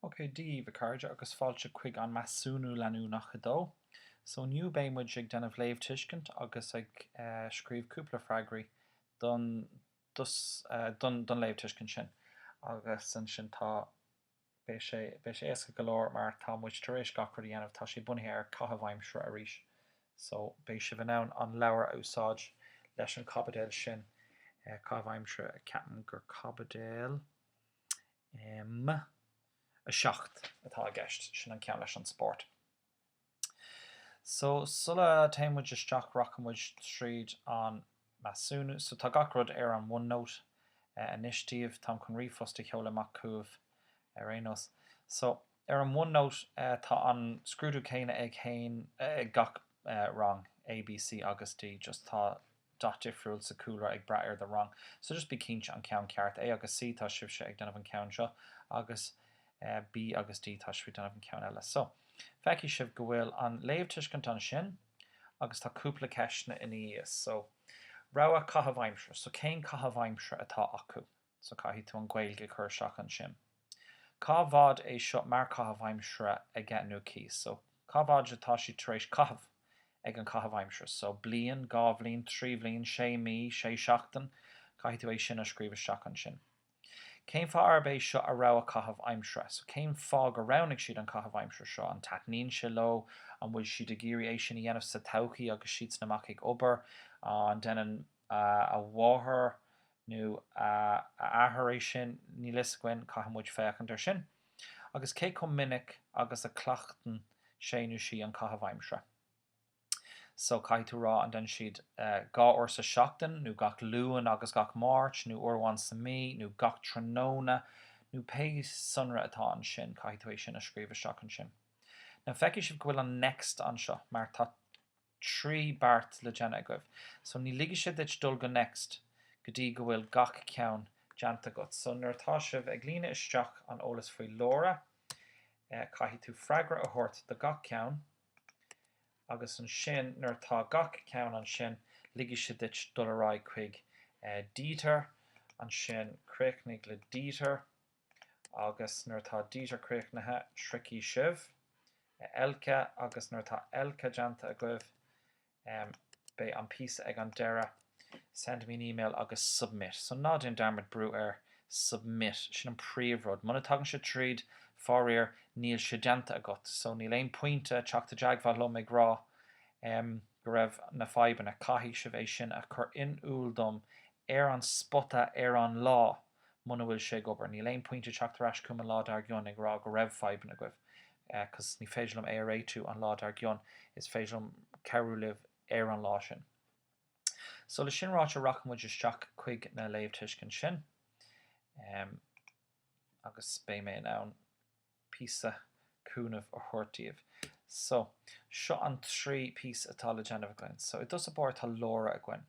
OK, Dia daoibh, a chairde, agus fáilte chuig an Measúnú Leanúnach 2. So, inniu beidh muid ag déanamh léamhtuiscint agus ag eh scríobh cúpla freagraí don dos eh don don léamhtuiscint sin. Agus ansin tá. Beidh sé, beidh sé éasca go leor mar tá muid tar éis gach rud a dhéanamh, tá sé bunaithe ar caitheamh aimsire arís so beidh sibh in ann an leabhar a úsáid leis an caibidil sin, caitheamh aimsire, ceapaim gur caibidil ehm. 7 atá i gceist, sin an ceann leis an spórt. So, sula dtéann muid isteach rachaidh muid tríd an measúnú. So, tá gach rud ar an OneNote anois daoibh. Táim chun ríomhphost a sheoladh amach chugaibh ar aon nós. So, ar an OneNote tá an scrúdú céanna ag gach rang A, B, C agus D just tá. dath difriúil sa chúlra ag brath ar do rang so just bí cinnte an ceann ceart A agus C tá sibhse ag déanamh an ceann seo agus B agus D tá sibh ag déanamh an ceann eile so feicfidh sibh go bhfuil an léamhtuiscint ansin agus tá cúpla ceisteanna ina dhiaidh so rogha caitheamh aimsire so cén caitheamh aimsire atá acu? so caithfidh tú an Gaeilge a chur isteach ansin. Cá bhfad é seo mar caitheamh aimsire aige nó aici, so cá bhfad atá siad tar éis caitheamh ag an caitheamh aimsire, so bliain, dhá bhliain, trí bhliain, sé mí, sé seachtain, caithfidh tú é sin a scríobh isteach ansin. Cén fáth arb é seo a rogha caitheamh aimsire, so cén fáth go roghnaigh siad an caitheamh aimsire seo, an taitníonn sé leo, an bhfuil siad ag iarraidh é sin a dhéanamh sa todhchaí agus siadsan amach ag obair, an déanann a mháthair nó a athair é sin, níl fhios againn, caithfidh muid féachaint ar sin, agus cé chomh minic agus a cleachtann sé nó sí an caitheamh aimsire. So, caithfidh tú a rá an déanann siad dhá uair sa seachtain, nó gach Luan agus gach Máirt, nó uair amháin sa mí, nó gach tráthnóna, nó pé sonra atá ansin, caithfidh tú é sin a scríobh isteach ansin. Now, feicfidh sibh go bhfuil an next anseo, mar tá. trí beirt le déanamh agaibh so ní ligfidh sé duit dul go next go dtí go bhfuil gach ceann déanta agat. So nuair atá sibh ag líonadh isteach an eolas faoi Laura caithfidh tú freagra a thabhairt do gach ceann agus ansin nuair atá gach ceann ansin ligfidh sé duit dul ar aghaidh chuig Dieter ansin críochnaigh le Dieter agus nuair atá Dieter críochnaithe, sroichfidh sibh, a Elke, agus nuair atá Elke déanta agaibh, em, beidh an píosa ag an deireadh, send me an email agus submit. So ná déan dearmad brú ar submit, sin an príomhrud. Muna dtagann sé tríd, faraor, níl sé déanta agat. So níl aon pointe teacht i dteagmháil liom ag rá, em, go raibh na fadhbanna, caithfidh sibh é sin a chur in iúl dom ar an spota ar an lá. muna bhfuil sé ag obair. Níl aon pointe teacht ar ais chugam an lá dár gcionn ag rá go raibh fadhbanna agaibh, cos ní féidir liom é a réitiú an lá dár gcionn, is féidir liom cabhrú libh ar an lá sin. So le sin ráite rachaidh muid isteach chuig na léamhthuiscintí sin agus beidh mé in ann píosa cúnamh a thabhairt daoibh. So seo an trí píosa atá le déanamh againn. So i dtús ar barr tá Laura againn.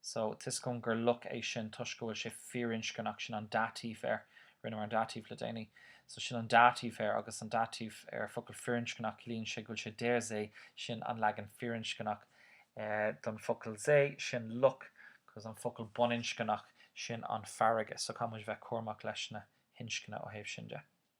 So, tuiscim gur loch é sin toisc go bhfuil sé firinscneach, sin an dative air, rinneamar an dative le déanaí. So, sin an dative air agus an dative ar focal firinscneach, ciallaíonn sé go bhfuil sé der See, sin an leagan firinscneach don focal See, sin loch, cos an focal baininscneach, sin an farraige. So, caithfidh muid bheith cúramach leis na hinscne ó thaobh sin de.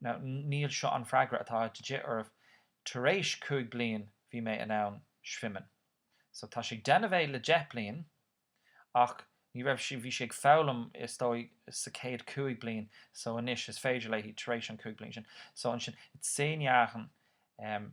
Now, níl seo an freagra atá de dhith oraibh, tar éis cúig bliain bhí mé in ann schwimmen. So tá sé ag déanamh é le deich bliain ach ní raibh sé, bhí sé ag foghlaim is dóigh sa céad cúig bliain so anois is féidir léi tar éis an cúig bliain sin. So ansin, seit zehn Jahren, em,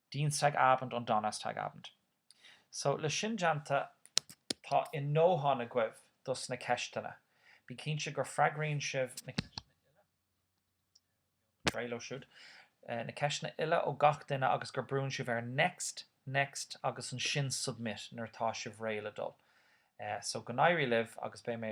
Dienstagabend und Donnerstagabend. So, le sin déanta, tá a ndóthain agaibh dos na ceisteanna. Bí cinnte gur freagraíonn sibh na ceisteanna uile, a bheidh ar fáil leo siúd, na ceisteanna uile ó gach duine agus gur brúnn sibh ar next, next agus ansin submit nuair atá sibh réidh le dul. So, go n-éirí libh agus beidh mé.